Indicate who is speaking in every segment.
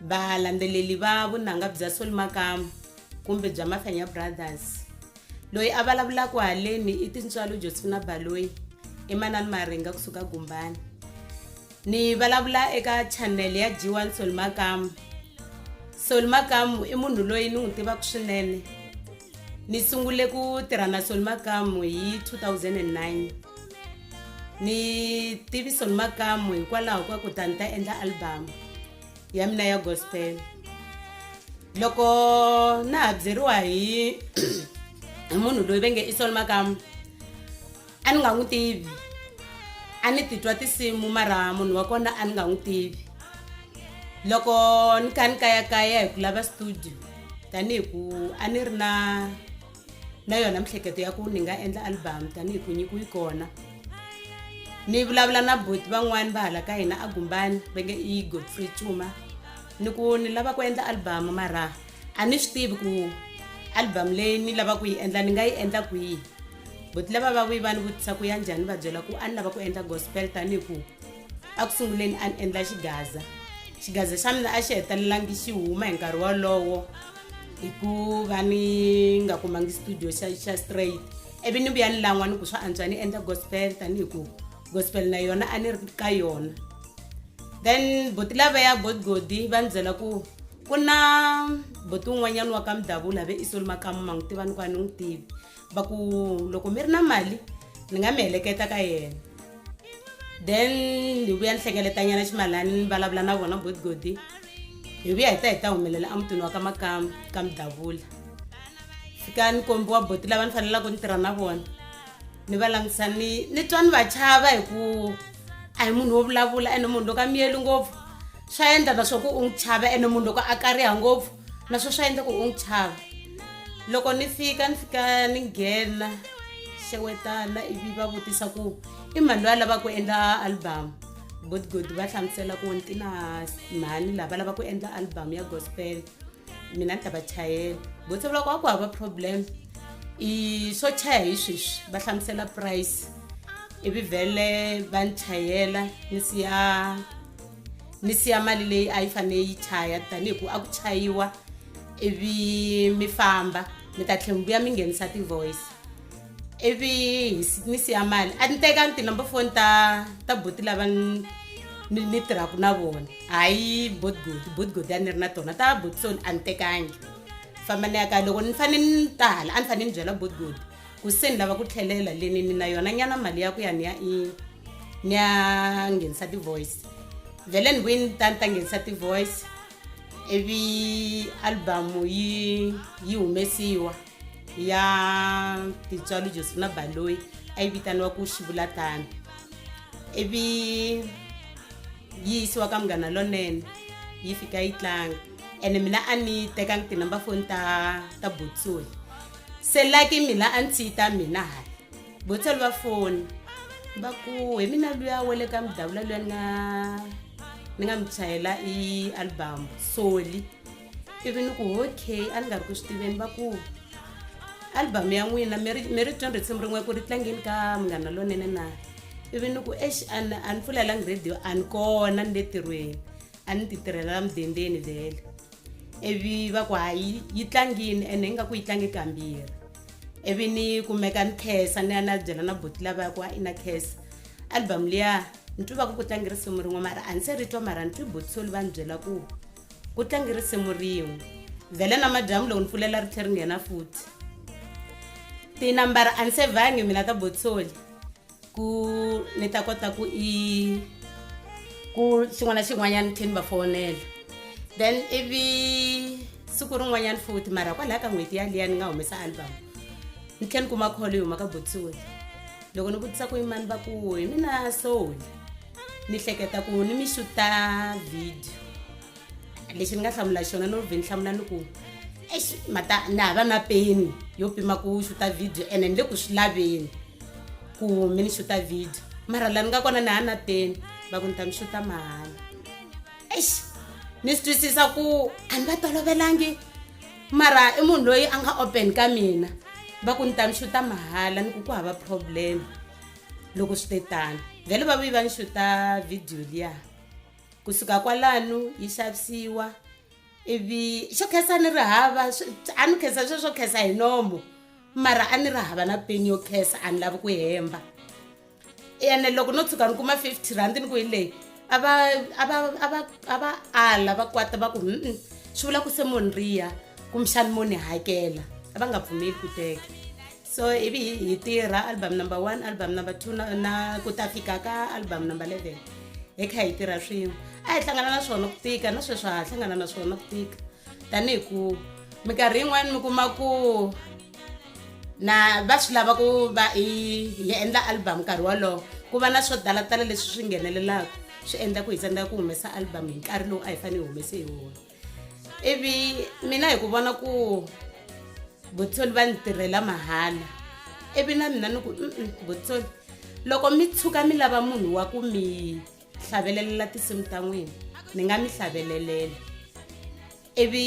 Speaker 1: Valandzeleli va vunanga bya Sol Makamu kumbe bya Mafenya Brothers. Loyi a vulavulaka haleni i tintswalo Josephina Baloyi emanani Maringa kusuka Gumbani. Ni vulavula eka channel ya G1 Sol Makamu. Sol Makamu i munhu loyi ni n'wi tivaka swinene. Ni sungule ku tirha na Sol Makamu hi 2009. ni tiviso ni makamu hikwalaho ka ku ta ni ta endla albamu ya mina ya gospel loko na ha byeriwa hi hi munhu loyi ve nge i sol makamu a ni nga n'wi tivi a ni titwa tinsimu mara munhu wa kona a ni nga n'wi tivi loko ni kha ni kayakaya hi ku lava studio tanihi ku a ni ri na na yona miehleketo ya ku ni nga endla album tanihi ku nyiku yi kona ni vulavula na boti van'wani va hala ka hina a gumbani va nge i godfrey cuma ni ku ni lava ku endla album mara a ni swi tivi ku album leyi ni lava ku yi endla ni nga yi endla kwihi boti lava va vuyi va ni vutisa ku ya njhani va byela ku a ni lava ku endla gospel tanihi ku a ku sunguleni a ni endla xigaza xigaza xa mina a xi hetelelangi xi huma hi nkarhi wolowo hi ku va ni nga kumangi studio xa xa straight ivi ni vuya ni lan'wa ni ku swa antswa ni endla gospel tanihi ku gospel na yona a ni ri ka yona then boti lava ya godgodi va ni byela ku ku na boti un'wanyana wa ka mudavula ve i solomakamu ma n'wi tiva ni ku a ni n'wi tivi va ku loko mi ri na mali ni nga mi heleketa ka yena then ni vuya ni hlengeletanyana ximalani ni vulavula na vona godigodi hi vuya hi ta hi ta humelela emutini wa ka makamba ka mudavula fika ni kombiwa boti lava ni fanelaka ni tirha na vona ni va langutisa ni ni twa ni va chava hi ku a hi munhu wo vulavula ene munhu loko a miyeli ngopfu swa endla na swa ku u n'wi chava ene munhu loko a kariha ngopfu na swo swa endla ku u n'wi chava loko ni fika ni fika ni nghena xewetana ivi va vutisa ku i mhani loyi a lava ku endla album good good va hlamusela ku ni ti na mhani laha va lava ku endla album ya gospel mina ni ta va chayela vo se vulaka wa ku hava problem i swo chaya hi sweswi va hlamusela price ivi vhele va ni chayela ni siya ni siya mali leyi a yi fanele yi chaya tanihi ku a ku chayiwa ivi mi famba mi ta tlhela mi vuya mi nghenisa ti-voice ivi ni siya mali a ni teka ti-number phone ta ta boti lava ni tirhaka na vona hayi botgodi botgodi a ni ri na tona ta botson a ni tekangi famba ni ya ka loko ni fanele ni tala a ni fanele ni byela botgodi ku se ni lava ku tlhelela le ni ni na yona nyana mali ya ku ya ni ya i ni ya nghenisa ti-voice vhele ni vuyi ni ta ni ta nghenisa ti-voice ivi albamu yi yi humesiwa ya titswalo joseph na baloyi a yi vitaniwa ku xivula tani ivi yi yisiwa ka munghana lonene yi fika yi tlanga ene mina a ni tekangi tinumber foni ta ta botsoyi selaki mila a ndzi ta mina hala botsali va foni va ku hi mina luya wa le ka mudavula luya na ni nga mi chayela i album soli ivi ni ku okay a ni nga ri ku swi tiveni va ku album ya n'wina mi ri mi ri twa risimu rin'we ku ri tlangeni ka munghana lonene na ivi ni ku exi a ni a ni pfulelangi radio a ni kona ni le tirhweni a ni ti tirhelela mudendeni vhele ivi va ku hayi yi tlangini ene ingaku yi tlange kambirhi ivi ni kumeka ni khesa ni ya na byela na boti lava ya ku a i na khesa album liya ni twi va ku ku tlange risimu rin'we mara a ni se ri twa mara ni twi botisoli va ni byela ku ku tlange risimu rin'we vhele na madyambu loko ni pfulela ri tlhe ri nghena futhi tinambara a ni se vangi mina ta botisoli ku ni ta kota ku i ku xin'wana na xin'wanyana tlhe ni va fonela then ivi siku rin'wanyana futhi mara kwalaha ka n'hweti yaliya ni nga humesa album ni tlhe ni kuma kholo yi huma ka botsoni loko ni vutisa ku yimani va ku hi mina soul ni hleketa ku ni mi xuta video lexi ni nga hlamula xona no vhe ni hlamula ni ku exi mata ni hava na peni yo pima ku xuta video ene ni le ku swi laveni ku mi ni xuta video mara la ni nga kona ni ha na peni va ku ni ta mi xuta mahala exi ni swi twisisa ku a ni va tolovelangi mara i munhu loyi a nga open ka mina va ku ni ta mi xuta mahala ni ku ku hava problem loko swi te tani vhele va vuyi va ni xuta video liyaa kusuka kwalano yi xavisiwa ivi xo khensa ni ri hava a ni khensa sweswo khensa hi nomo mara a ni ri hava na peni yo khensa a ni lavi ku hemba ene loko no tshuka ni kuma fifty rand ni ku hi leyi a va a va a va a va ala va kwata va ku mm swi vula ku se mo ni riya kumbexani mo ni hakela a va nga pfumeli ku teka so ivi hi hi tirha album number one album number two na, na ku ta fika ka album number 11 hi kha hi tirha swin'we a hi hlangana na swona ku tika na sweswi ha hlangana na swona ku tika tanihi ku minkarhi yin'wana mi kuma ku na va swi lava ku va hi endla album nkarhi wolowo ku va na swo talatala leswi swi nghenelelaka swi endla ku hi tsandzeka ku humesa album hi nkarhi lowu a hi fanele hi humese hi wona ivi mina hi ku vona ku vutsoli va ni tirhela mahala ivi na mina ni ku vutsoli loko mi tshuka mi lava munhu wa ku mi hlavelelala tinsimu ta n'wina ni nga mi hlavelelele ivi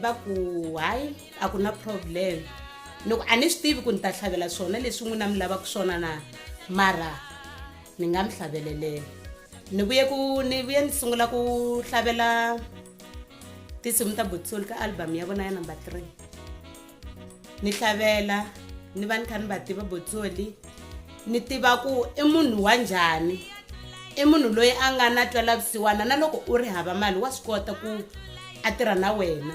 Speaker 1: va ku hayi a ku na problem ni ku a ni swi tivi ku ni ta tlhavela swona leswi n'wina mi lavaka swona na mara ni nga mi hlaveleleni ni vuye ku ni vuye ni sungula ku hlavelela tinsimu ta botsol ka album ya vona ya number three ni hlavelela ni va ni kha ni va tiva botsoli ni tiva ku i munhu wa njhani i munhu loyi a nga na twelavusiwana na loko u ri hava mali wa swi kota ku a tirha na wena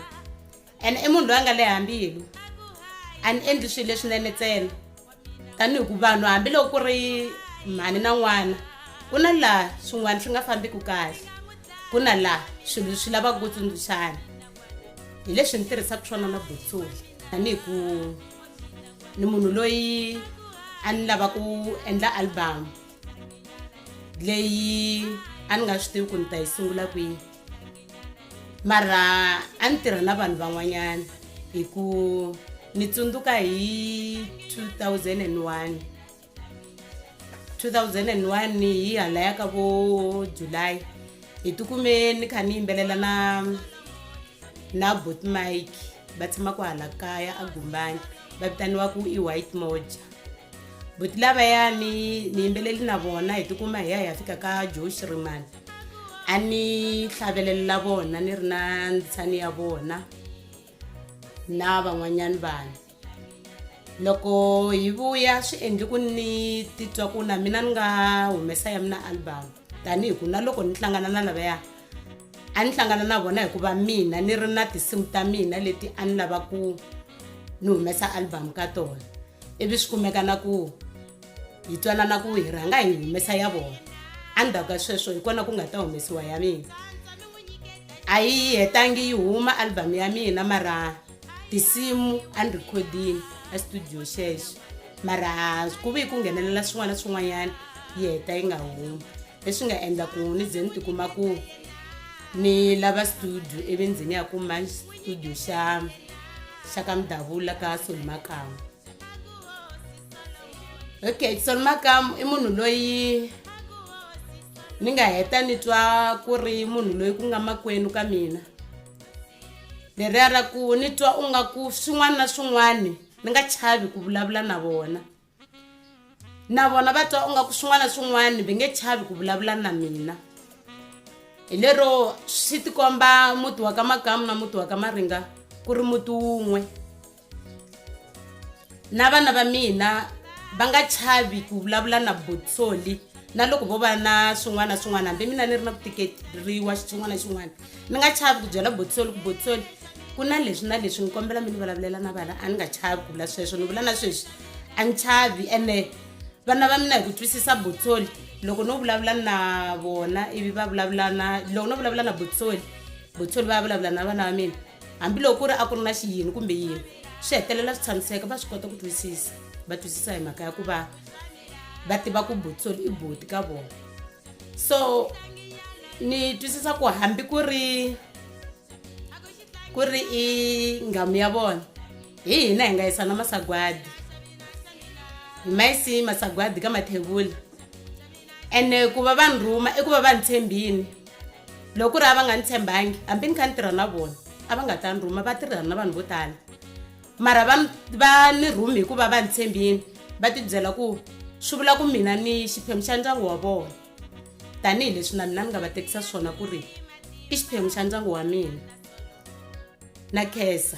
Speaker 1: and i munhu loyi a nga le hambilu a ni endli swilo leswinene ntsena tanihi ku vanhu hambiloko ku ri mhani na n'wana ku na laha swin'wana swi nga fambiki kahle ku na laha swilo swi lavaka ku tsundzuxana hi leswi ni tirhisaka swona na botsoli tanihi ku ni munhu loyi a ni lava ku endla albamu leyi a ni nga swi tivi ku ni ta yi sungula kwihi mara a ni tirha na vanhu van'wanyana hi ku ni tsundzuka hi 2001 2001 hi halaya ka vo july hi tikume ni kha ni yimbelela na na bot mike va tshamaka hala kaya a gumbani va vitaniwaku i white moja boti lavayani ni yimbeleli na vona hi tikuma hi ya hi ya fika ka joe shrimani a ni tlhavelelela vona ni ri na ntshani ya vona na van'wanyana vanhu loko hi vuya swi endli ku ni titwa ku na mina ni nga humesa ya mina album tanihi ku na loko ni hlangana na lavaya a ni hlangana na vona hikuva mina ni ri na tinsimu ta mina leti a ni lava ku ni humesa album ka tona ivi swi kumeka na ku hi twanana ku hi rhanga hi humesa ya vona endzhaku ka sweswo hi kona ku nga ta humesiwa ya mina a yi yi hetangi yi huma album ya mina mara tinsimu a ni rhikhodini estudio xexo mara ku ve ku nghenelela swin'wana na swin'wanyana yi heta yi nga humi leswi nga endla ku ni ze ni tikuma ku ni lava studio ivi ndzi ni ya kuma studio xa xa ka mudavula ka solimakama okay tsona makamu i munhu loyi ni nga heta ni twa ku ri munhu loyi ku nga makwenu ka mina leriya ra ku ni twa u nga ku swin'wana na swin'wana ni nga chavi ku vulavula na vona na vona va twa u nga ku swin'wana na swin'wana va nge chavi ku vulavula na mina hi lero swi tikomba muti wa ka makamu na muti wa ka maringa ku ri muti wun'we na vana va mina va nga chavi ku vulavula na botsoli na loko vo va na swin'wana na swin'wana hambi mina ni ri na ku tikeriwa xitsongwana xin'wana ni nga chavi ku byela botsoli ku botsoli ku na leswi na leswi ni kombela mi ni vulavulela na vana a ni nga chavi ku vula sweswo ni vula na sweswi a ni chavi ene vana va mina hi ku twisisa botsoli loko no vulavula na vona ivi va vulavula na loko no vulavula na botsoli botsoli va ya vulavula na vana va mina hambiloko ku ri a ku ri na xiyini kumbe yini swi hetelela swi tshamiseka va swi kota ku twisisa va twisisa hi mhaka ya ku va va tiva ku butisoli i buti ka vona so ni twisisa ku hambi ku ri ku ri i nghamu ya vona hi hina hi nga yisa na masagwadi hi ma yisi masagwadi ka mathevula ene ku va va ni rhuma i ku va va ni tshembini loko ku ri a va nga ni tshembangi hambi ni kha ni tirha na vona a va nga ta ni rhuma va tirhana na vanhu vo tala mara va va ni rhumi hikuva va ni tshembini va tibyela ku swi vula ku mina ni xiphemu xa ndyangu wa vona tanihileswi na mina ni nga va tekisa swona ku ri i xiphemu xa ndyangu wa mina na khensa.